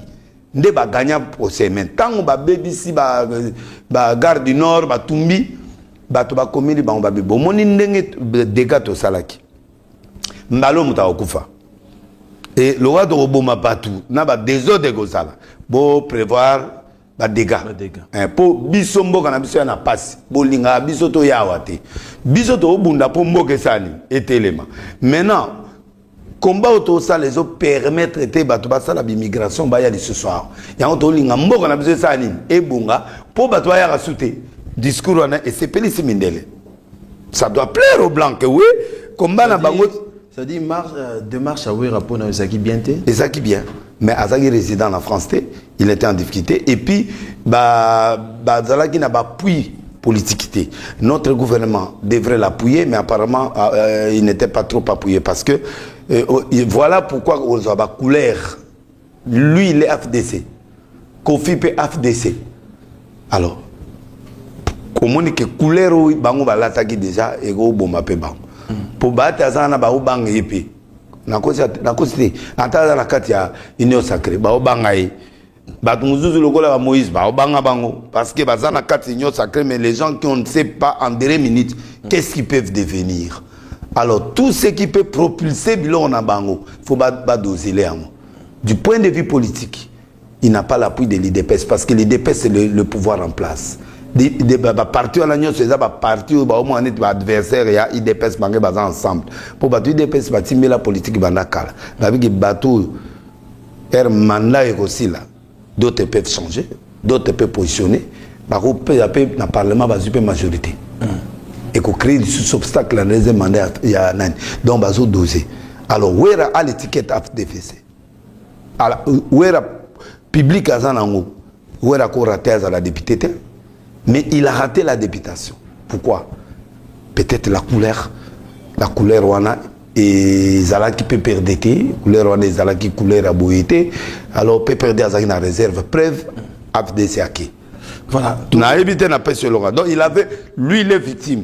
nde ba gagna procès mais ntango babebisi ba, ba gare du nord batumbi bato bakomeli bango babe bomoni ndenge dega tosalaki mbalo moto akokufa e lokola tokoboma bato na badesordre ekozala boprévoir badega mpo eh, biso mboka na biso ya na mpasi bolingaka biso toyawa te biso tokobunda mpo mboka esani etelema maintenant combat oyo tozosala ezo permettre te bato basala b'immigration baya lisusu awa yango tolinga mboka na biso esala nini ebonga mpo bato bayaka su te discours wana esepelisi mindele ça doit plaire au blanc que oui combat na bango c'est-à-dire euh, démarche ya wera mpo na yo ezalaki bien te ezalaki bien mais azalaki résident na france te il était en difficulté et puis bazalaki ba, na bapuis politique te notre gouvernement devrait l'appuyer mais apparemment euh, euh il n'était pas trop appuyé parce que euh, oh, voilà pourquoi ozwa bacouleur lui il est fdc kofi mpe fdc alors omoni ke couleur oyo bango balataki déjà ekoboma mpe bango mpo baate aza na baobanga ye mpe nakosi nakosi te ata aza na kati ya union sacré baobanga ye bato mosusu lokola ba moïse baobanga bango parce que baza na kati union sacré mais les gens qui on ne sait pas en dernière minute qu'est-ce qu'ils peuvent devenir alors tout ce qui peut propulser biloko na bango faut badosele yango du point de vue politique il n'a pas l'appui de l'IDPS parce que l'IDPS c'est le, le pouvoir en place baparti wana nyonso eza baparti oyo baomona neti baadversaire ya idps bange baza ensemble mpo bato idps batimbela politiki banda kala babiki bato oyo ere manda ekosila d'autres peuvent changer d'autres peuvent positionner bakopesa mpe na parlement bazwi mpe majorité hmm. ekocree lisusu obstacle na deuxième mandat ya nani donc bazodose alors wera a l'étiquette afdfc ala wera public aza nango wera ko rater azala député te mais il a raté la députation pourquoi peut-être la couleur la couleur wana ezalaki pprd te couleur wana ezalaki couleur ya boye te alors pprd azalaki na réserve preuve afdc ake voilà nayebi te napesi elonga donc il avait lui il est victime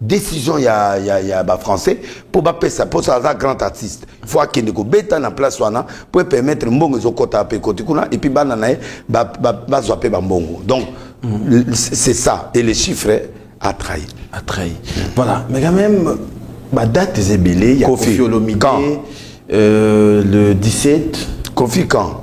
decision ya, ya, ya ba français mpo bapesa mposo aza grand artiste fo akende kobeta na place wana mpo epermettre mbongo ezokota mpe ekoti kuna epuis bana na ye bazwa mpe bambongo donc mm. c'est ça et le chiffre a trahi a trahi voilà mais quand même badate eza ebele ya kofi olomide euh, le 17 kofi quand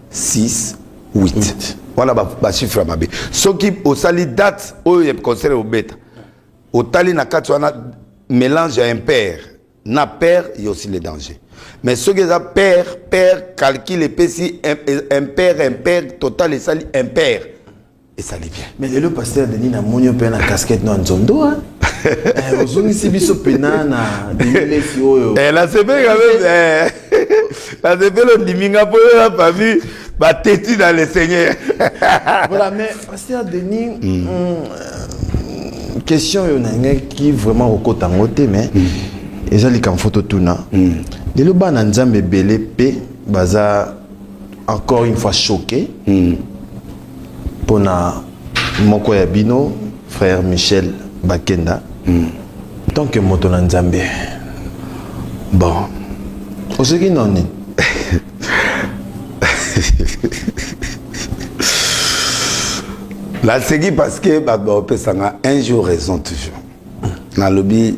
6 8 wana bachiffre ya mabe soki osali date oyo ya concert obeta otali na kati wana mélange ya impère na père ya aussi le danger mais soki eza père père calcul epesi impère impère total esali impère esali bien mais lelo pasteur denis na moni mpe na casquette no ya nzondo hein? eh, ozongisi biso pena na lilelesi oyo eh, nasepeli eh, nasepeli ondimi nga mpo yo na famille bateti na le seigneur voilà mais pasteur denis mm. Mm, euh, question oyo nalingaki vraiment kokota yango te mais mm. eza likambo fo totuna mm. lelo bana nzambe ebele mpe baza encore une fois choqué mm. pona moko ya bino frère Michel Bakenda mm. tant que moto na Nzambe bon oseki nani naseki parce que bato baopesanga un jour raison toujours nalobi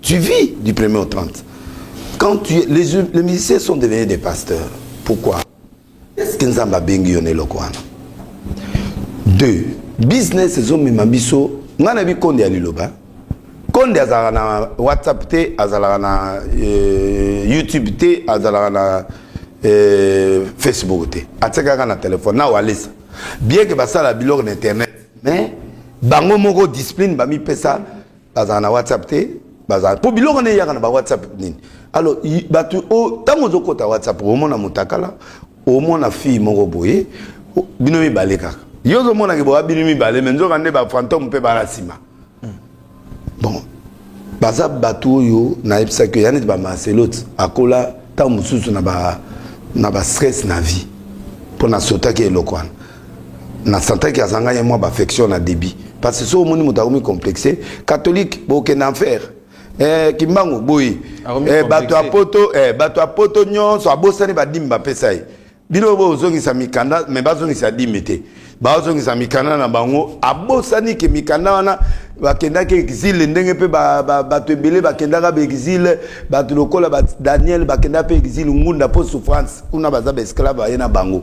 Tu vis du premier au 30. Quand tu, les, les musiciens sont devenus des pasteurs. Pourquoi Est-ce que Nzamba bengi yo eloko wana Deux, business ezomema biso ngai nayebi konde ya liloba konde azalaka na whatsapp te azalaka na euh, youtube te azalaka na euh, facebook te atikaka na telefone na walesa bien ke basala biloko na internet mais bango moko discipline bamipesa bazala na whatsapp te bazala mpo biloko nde eyaka na ba whatsapp nini alors bato ntango ozokota whatsapp omona motakala omona fille moko boye bino mibale kaka yo ozomonaki boya bino mibale me nzoka nde bafantome mpe bala nsima hmm. bon baza bato oyo nayebisaki ya neti bamarcelote akola ntango mosusu na bastress na vie mpo nasotaki eloko wana na santaki azanga ye mwa baaffection na débit parce que so omoni moto akomi complexe catholique bokende en faire eh, kimbangu boye eh, bato ya poto eh, bato ya poto nyonso abosani badimi bapesa ye bino bozongisa mikanda me bazongisa dimi te bazongisa mikanda na bango abosani ke mikanda wana bakendaki exile ndenge mpe bato ebele bakendaka baexile bato lokola daniel bakendaka mpe exile ngunda mpo souffrance kuna baza baesclave aye na bango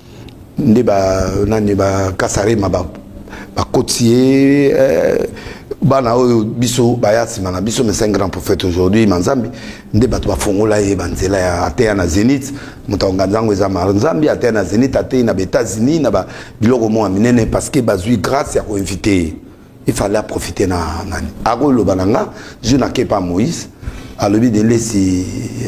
nde ba nani ba kasarema ba bakoti ye eh, bana oyo biso baya nsima na biso mais c'est un grand prophète aujourd'hui manzambi nde bato bafongola ye banzela ya ateya na zénith moto ya nganza yango eza manzambi ateya na zénith ateyi na ba états-unis na ba biloko moko ya minene parce que bazwi grâce ya koinvite ye il fallait aprofite na nani akoloba na nga jour nakepa moïse alobi delesi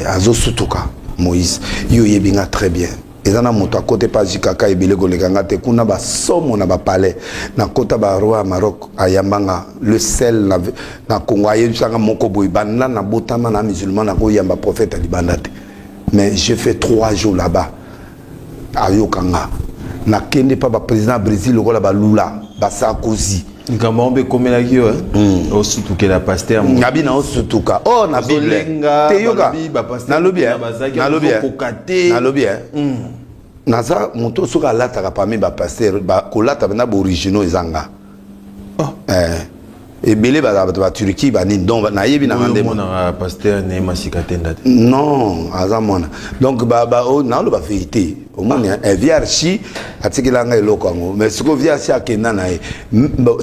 azosutuka moïse yo oyebi nga très bien eza na moto akota epa jikaka ebele koleka nga te kuna basomo na bapalais nakota baroi ya maroc ayamba nga le sel na, na congo ayebisanga moko boye banda nabotama na musulman nakoyamba prophète ya libanda te mais je fais trois jours là-bas ayoka nga nakende pa ba président ya brésil lokola balula basakozi likambo yango mpe ekomelaki yo hmm. osutukela paster nabi na osutuka o oh, na bible te yoka nalobi eh. nalobi eh. nalobi eh. hmm. naza moto soki alataka parmi bapaster kolata bena baoriginaux eza nga Oh. Eh. ebele bazala bato ba turquie banini donc nayebi nanga nde ah, pasteur ne masika tenda te non aza mwana donc oh, naloba verité omoni eh, vrc atikela nga eloko yango mais sikoyo vrc akenda na ye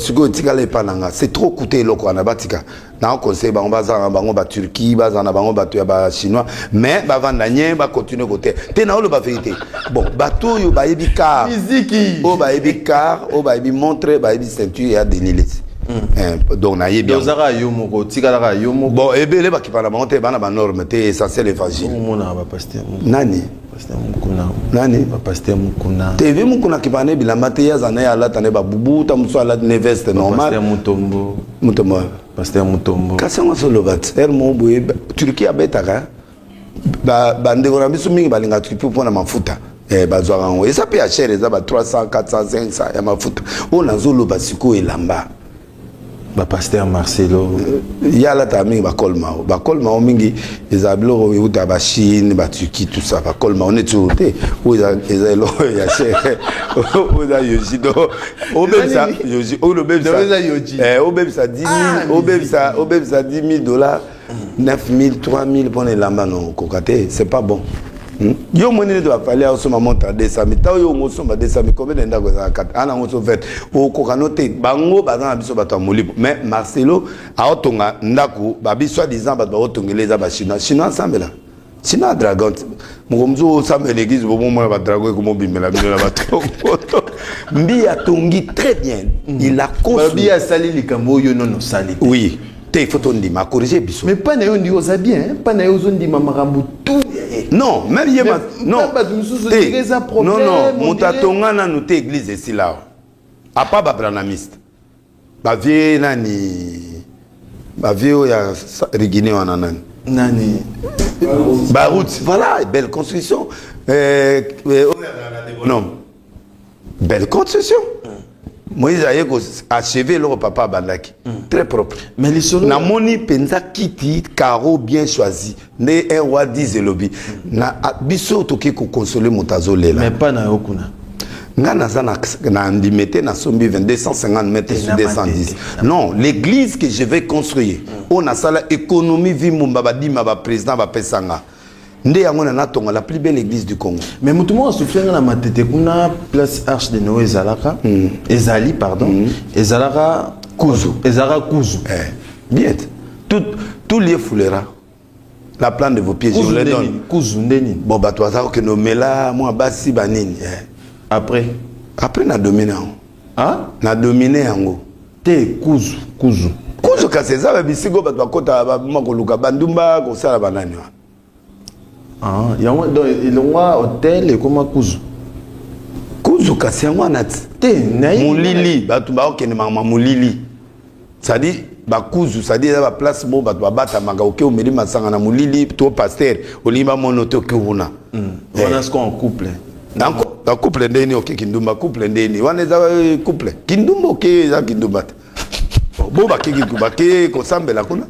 sikoyo etikala epa na nga c'est trop coûte eloko wana batika na conseil bango bazala na bango ba Turquie bazala na bango bato ya ba chinois mais bavanda nye ba continuer kote te na oloba verite bon bato oyo bayebi car miziki oyo bayebi car oyo bayebi montre bayebi ceinture ya Denis Lessi Eh, donc nayebi yango. ozaka yo moko otikalaka yo moko bon ebele bakipana bango te bana banorme te essentiel évangile omonaka bapaster nani Pasteur Mukuna. Nani? Ba Pasteur Mukuna. TV Mukuna ki bana bilamba te yaza na ya lata ne ba bubu ta muso ala ne veste normal. Pasteur Mutombo. Mutombo. Pasteur Mutombo. Kasi ngo solo bat. Er mo boye Turquie abetaka. Ba bande ko na biso mingi balinga Turquie pona mafuta. Eh bazwaka ngo. Esa pe ya cher eza ba 300, 400, 500 ya mafuta. Ona zolo ba siko elamba. ba pasteur marcelo ye alataka mingi bacolmao bacolmao mingi ezala biloko euta bachine baturki tout ça bacolmao neti oyo te oyo eza eloko ya chere oyo eza yoji do obebisa yoji oyo obebisa 10 obebisa 10 000 dollars 9000 3000 mpo na elamba na okoka te c'est pas bon hmm? yo moni nete bafali osomba montre ya 200000 ntango yo ongo osomba 200000 kobe na ndako ezala kata ana yango so vete okoka no te bango baza na biso bato ya molimo mais marcelo aotonga ndako babi soi disant bato baotongela eza bachinois chinois asambela sina dragon moko mosusu osamba eglise bomomona badragon ekomobimela bino na batongoto mbi atongi très bien mm. il a conbi asali likambo oyo nono osali oui te il faut tondima akorige biso mais mpa na yo ndiki oza bien mpa na yo ozondima makambo tout non même ye non bato mosusu ndenge eza problème non non moto atonga nanu te église esila awa apa babranamiste ba vieux nani ba vieux ya rigine wana nani nani ba route voilà belle construction euh, euh, oh, non belle construction moïse aye koacheve eloko papa abandaki mm. très propre mais lisolo namoni mpenza kiti caro bien choisi nde un wa dise elobi na biso toke kokonsole moto azolela mais pas na yo kuna nga naza na ndime te nasombi 250 mètres sur 210 non l'église que je vais construire mm. oyo nasala économie vi mbumba badima baprésident bapesa nga nde yango na natonga la plus belle église du congo mais moto moko asufia nga na matete kuna place arche de noe ezalaka mm. ezali pardon mm. ezalaka kuzu ezalaka kuzu eh. bien tout tout lieu foulera la plante de vos pieds je vous les donne kuzu nde nini bon bato baza kokende omela mwa basi banini eh. après après na domine yango ah? na domine yango te kuzu kuzu kuzu kasi eza ba bisika oyo bato bakota babima koluka bandumba kosala banani wana ah, yango donc elongwa hotel ekoma kuzu kuzu kasi yango wana te molili bato bakokende mama molili cestadire bakuzu cestadire eza baplace mo bato babatamaka oke omeli masanga na molili to paster olingi bamono te oke kuna hmm. eh. wana siko en couple na couple ndenge nini oke kindumba couple ndenge nini wana eza eh, couple kindumba oke eza kindumba te bo bakeki bake kosambela kuna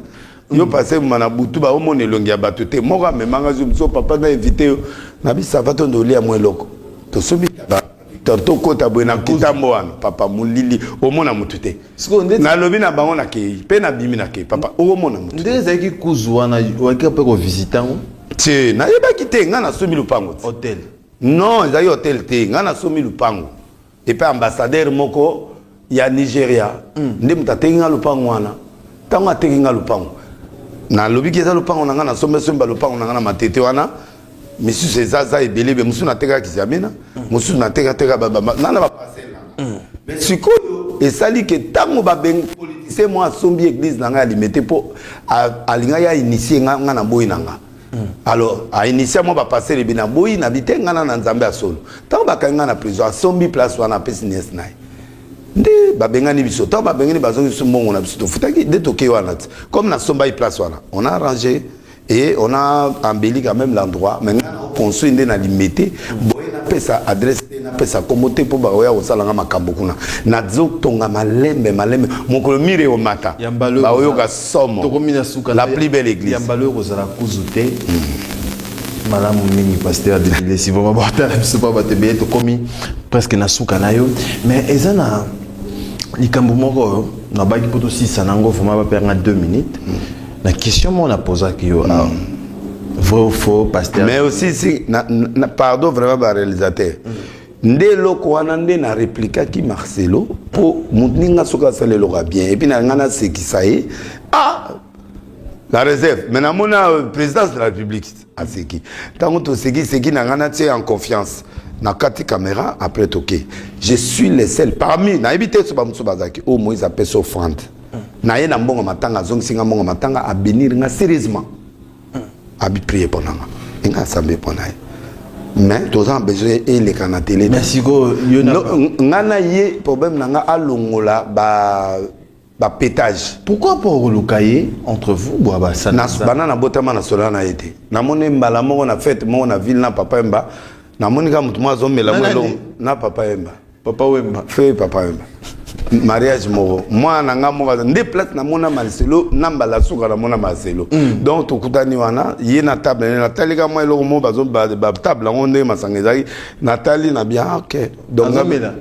yo hmm. pase ma na butu baomona elongi ya bato te moko amemanga zo papa na evite yo na bisava to nde olia mwa eloko tosombi torto kota boye na nkutambo wana papa molili omona motu te nalobi na bango nakei mpe nabimi nakei papa okomona motu ndenge ezalaki kuzu wana oyaki mpe kovisite yango te nayebaki te ngai nasomi lopango te hotel non ezalaki hotel te ngai nasomi lopango epai ambassadeur moko ya nigeria mm. nde moto ateki nga lopango wana ntango ateki nga lopango nalobi ki eza lopango na nga na sombesomba lopango na nga na matete wana misusu ezaza ebelebe mosusu nateka kiziamina mosusu mm. natekateka nga na baparcele nanga mm. mais sikoyo esali ke ntango babengi politisien mwa asombi eglise na ngai ya limete mpo alingaki ainitie nga na boyi na nga Hmm. alors ainitia mwa bapastere ebi na boyi na bitengana na nzambe ya solo ntango bakangi ngai na prison asombi place wana apesi niese na ye nde babengani biso ntango babengani bazongi biso mbongo na biso tofutaki nde tokei wana ti comme nasombaki place wana on a arrangé et on a embelli quand même l'endroit mais ngai construit nde na limete boye napesa adresse te napesa nkombo te mpo bakoya kosala nga makambo kuna nazotonga malembe malembe mokolo mire omata baoyoka somo tokomi na suka la plus belle église ya mbalo ekozala kuzu te hmm. malamu mingi pasteur dibilesi vraimen botala biso pa bato ebele tokomi presque na suka na yo mais eza na likambo moko oyo nabaki mpo tosisa na yango vraimen bapeyanga 2 minutes hmm. na question moko napozaki yo awa hmm. vrai ou faux pasteur mais aussi si na, na, pardon vraiment baréalisateur mm. nde eloko wana nde na replikaki marcelo mpo moninga soki asala eloko ya bien epuis na ngai nasekisa ye ah la réserve mais namona euh, présidence de la république aseki ntango tosekiseki na ngai natie en confiance na kati caméra après toke je suis le seul parmi nayebi te so bamosusu bazalaki oyo oh, moïse apesa offrande na ye na mbongo matanga azongisi ngai mbongo matanga abénir ngai sérieusement abi prier mpo nanga enga asambe mpo na ye mais toza na besoin eleka na tele nga na ye problème na nga alongola ba bapetage pourquoi mpo okoluka ye entre vous bwa basanabana nabotama na sola na ye te namoni mbala moko na fete moko na ville na papa emba namoni ka moto moko azomela mo elongo na papa emba papa wemba fe papa wemba mariage moko mwana na ngai moko nde place namona marcelo na mbala suka namona marcelo mm. donc tokutani wana ye na table ne natali ka mwa eloko moko batable yango ndenge masanga ezalaki natali na bien ah, ok donc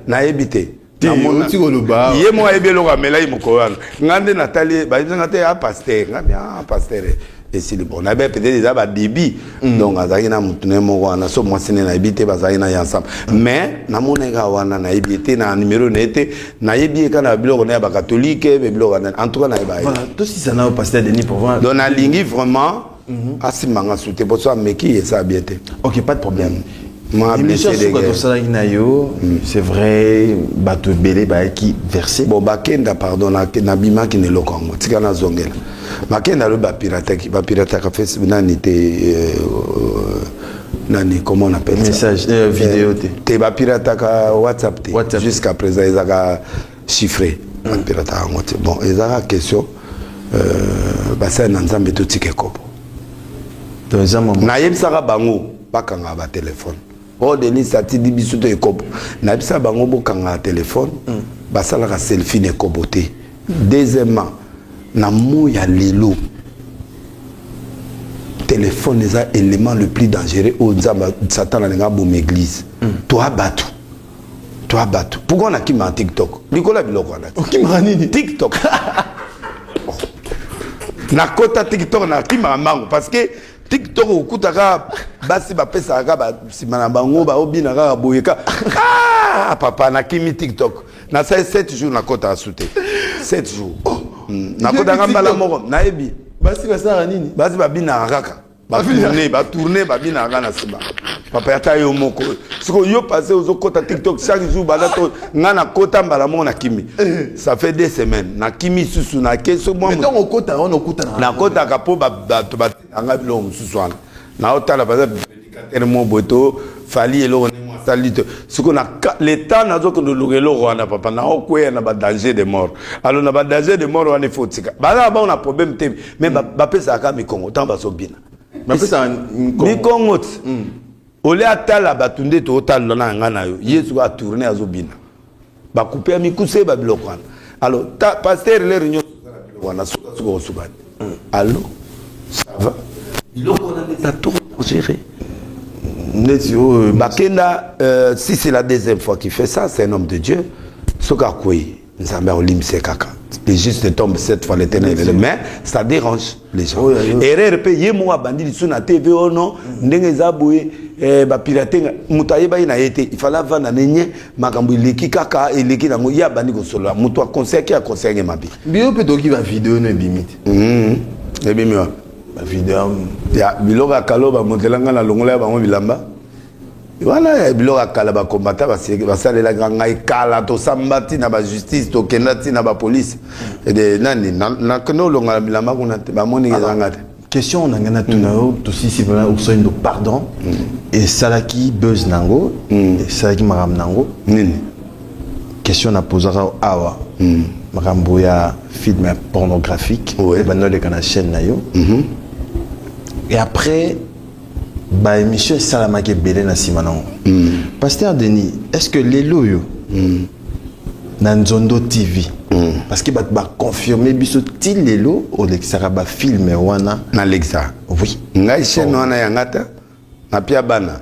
nayebi te ye moko ayebi eloko amelaki mokolo wana ngai nde natali bayebisa ngai te ya ah, paster ngai bien ah, paster esili bon nayebi peut-être eza babibi mm. donc azalaki na motu na ye moko wana so mwasi ne nayebi te bazalaki na ye ensemble mais namonaki kaka wana nayebi ye te na numero na ye te nayebi ye kaka na biloko na ya bakatolike be biloko wana en tout cas nayebi ye tosisa nayo pasteur denis provin donc nalingi vraiment mhm. asimba nga su te mpo so ameki eza bien te ok pas de problème mm. émission suka tosalaki na yo hmm. c'est vrai bato ebele bayaki verse bon bakenda pardon nabimaki na eloko yango tika nazongela bakenda alobi bapirataki bapirataka facebook nani te euh, euh, nani comment on appelle message ça? Euh, vidéo te te bapirataka whatsapp te WhatsApp. jusqu'à présent ezaka chiffré hmm. bapirataka yango te bon ezaka question euh, basali na nzambe totika ekobo nayebisaka bango bakanga ba telephone oh Denise atindi biso to ekobo nayebisa bango bokanga telephone mm. basalaka selfie na ekobo te deuxièmement na mo ya lelo téléphone eza élément le plus dangereux oyo nzambe satana alinga aboma église mm. toa bato toa bato pourkoi nakimaka tiktok likolo ya biloko wana okimaka nini tiktok nakota tiktok nakimaka mbango parce que tik tok okuta ka basi bapesaka ka basima na bango baobina kaka boye ka ah, papa nakimi tik tok nasali 7 jours nakotaka su te 7 jours oh, hmm, nakotaka mbala moko nayebi basi basalaka nini basi babinaka kaka batourne batourne babinaka kaka na nsima papa ata yo moko siko yo pase ozokota tiktok chaque jour banda to ngai nakota mbala moko na kimi eh. ça fait deux semaines na kimi susu nake so mwa nakotaka mpo bato batika ngai biloko mosusu wana naotala baza predikatere mo boye to fali eloko ndenge asali te siko na leta nazokende oluka eloko wana papa naokweya na badanger de mort alo na badanger de mort wana ifo tika bazala bango na problème te mais bapesaka mikongo ntango bazobina mikongo ti mm. olie atala bato nde tootalula na yanga na yo yesu atourne azobina ba coupe ya mikuse ba biloko wana alors ta pasteur leur union wana suka suka kosuka te hmm. allo ça va biloko wana eza trop dangereux neti oyo bakenda euh, si c'est la deuxième fois qui fait ça c'est un homme de dieu soki akwei nzambe akolimbisa ye kaka les justes tombent cette fois l'éternel mais ça dérange erreur mpe ye moko abandi lisusu na tv o oh non mm. ndenge eza boye eh, bapirate nga moto ayebaki na ye te ifale avanda ne nye makambo eleki kaka eleki nango ye abandi kosolola moto akonseyaki akonseyaki mabe biyo mpe toki bavideo no ebimi te mm-hmm. ebimi wapi bavideo ya biloko ya kalo bamotelanga na longola ya bango bilamba wana eh, biloko ya kala bakombata basalelaka ngai kala tosamba ntina bajustice tokenda ntina bapolice ede nani nakende olonga na bilamba kuna te bamoni ezanga te question na ngai natuna mm. yo tosisi vraimen osoyindo pardon mm. esalaki buzz na yango mm. esalaki makambo na yango nini question napozaka awa makambo ya film pornographique ebanda oleka na chaîne na yo mm-hmm. et après ba émission esalamaki ebele na nsima nango mm. pasteur denis est ce que lelo oyo mm. na nzondo tv mm. parce que bato baconfirme biso ti lelo olekisaka bafilme wana nalekisa oui ngai chaîne wana yanga te napia bana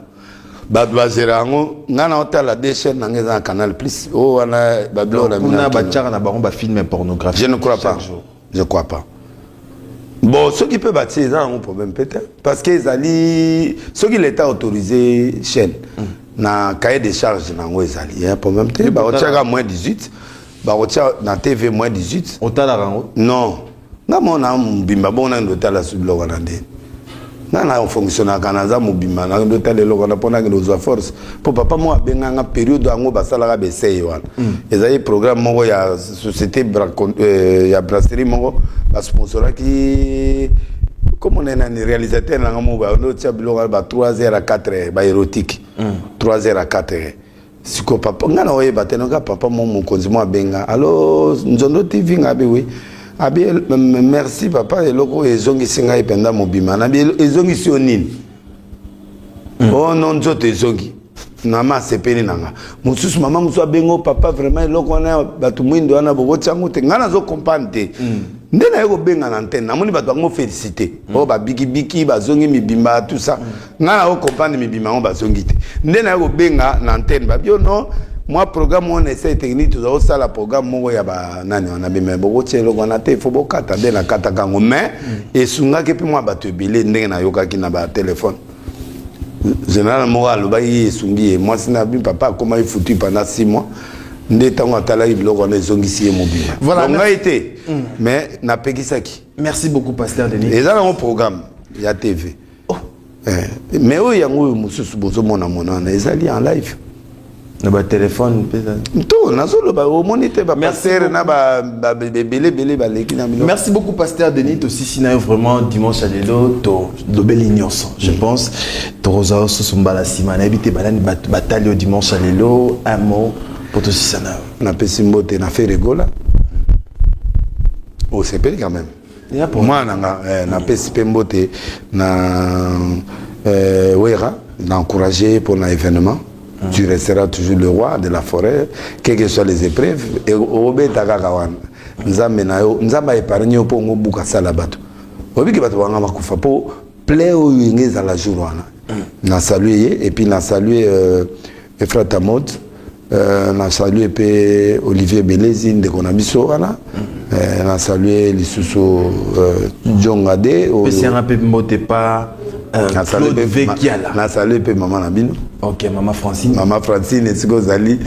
bato bazela yango ngai naotala de chaîne nanga eza na canal plus oyo wana babiloko na bino kuna batiaka na bango bafilme pornographique je ne crois pas jour. je crois pas bon soki mpe batie eza nango problème peut être parce que ezali soki l'état autorisé chaîne mm. na cahier de charge na yango ezali ya problème te bakotiaka moins 18 bakotia na tv moins 18 otalaka yango non nga mona mbimba bongo nani ndotala su biloko na ndeni nga na fonctionnaka naza mobimba na nde tala eloko wana mpo nakende kozwa force mpo papa moko abenga nga periode yango basalaka baeseye wana mm. ezali programme moko ya société euh, ya brasserie moko basponsoraki komona nani réalisateur nanga moko baotya biloko ba 3 heures à 4 heures baérotique 3 mm. heures à 4 heures siko papa nga na oyeba te noka papa mo mokonzi mo abenga alo nzondo tv nga abi oui abi merci papa eloko oyo ezongisi ngai mpenza mobima na ezongisi yo nini mm. o oh, no nzoto ezongi mama asepeli na nga mosusu mama mosusu abengo papa vraiment eloko wana bato mwindo wana bokoti yango te ngai nazo comprendre te mm. nde naye kobenga na antenne namoni bato yango félicité mm. oyo oh, babikibiki bazongi mibimba tout ça mm. nga na comprendre mibima ngo bazongi te nde naye kobenga na antenne babio non mwa programme wana esai technique tozali kosala programme moko ya banani wana bima bokotia eloko wana te ifo bokata nde nakataka yango mais esungaki mpe mwa bato ebele ndenge nayokaki na batelefone général moko alobaki ye esungi ye mwasi na bi papa akomaki futu pendant six mois nde ntango atalaki biloko wana ezongisi ye mobima voilà, ngai te mm. mais napekisaki merci beaucoup pasteur denis eza nango programme ya tv oh. eh. mais oyo yango oyo mosusu bozomona monana ezali en live na batelefone mpe to nazoloba omoni te bapastere na ebelebele baleki na bino merci beaucoup pasteur denis tosisi na yo vraiment dimanche ya lelo tolobeli nyonso je mm. pense tokozala osusu mbala nsima nayebi te banani batali yo dimanche ya lelo un mot mpo tosisa na yo napesi mbote na feregola osepeli quand même mwana na nga eh, napesi mpe mbote na eh, wera na encourage mpo na événement mm. tu resteras toujours le roi de la forêt quel que soit les épreuves obeta kaka wana nzambe na yo nzambe aepargne yo mpo ongo buka sala bato obiki bato banga bakufa mpo ple oyo enge ezala jour wana mm. na salue ye epuis na salue euh, Efrata Mot, euh, na salue mpe Olivier Belezi ndeko na biso wana euh, na salue lisusu euh, Jonga de oyo- Pesianga pe mbote pa euh, na salue Claude mpe- Vekiala. ma- na salue mpe mama na bino Ok, maman Francine. mama Francine esika ozali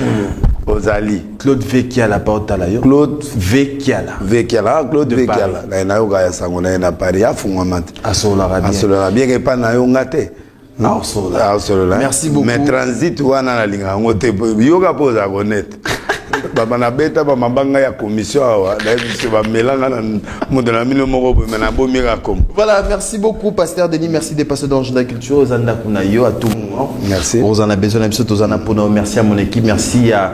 ozali Claude Vekiala pa otala yo. Claude Vekiala. Vekiala ah, Claude De Vekiala na ye nayoka ya sango na ye na Paris afungwama te Asololaka bien. asololaka bien epai na yo nga te naosolola merci beaucoup mais transit wana nalinga yango te yoka mpo ozala konete baba nabeta bamabanga ya commission awa nayebisi bamelanga na moto na mino moko boye me nabomi kakombo voilà merci beaucoup pasteur denis merci de passer dans la culture oza ndako na yo à tout moment merci oza na besoin na biso toza na mpona merci à mon équipe merci ya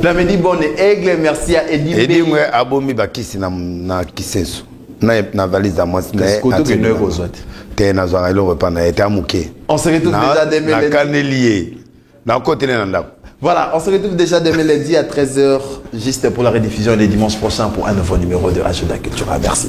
Plamedi Bonne Aigle, merci ya Edimbe. Edimbe abomi bakisi na, na kisenso na, na valise ya mwasi na ye. Koto kende kozwa te. Te nazwaka eloko epa na ye te amuke. On se retrouve déjà demain lundi. Nakaneli ye. Nakotele na ndako. Voilà, on se retrouve déjà demain lundi à 13h, juste pour la rediffusion les dimanches prochains pour un nouveau numéro de Agenda Culture. Ah, merci.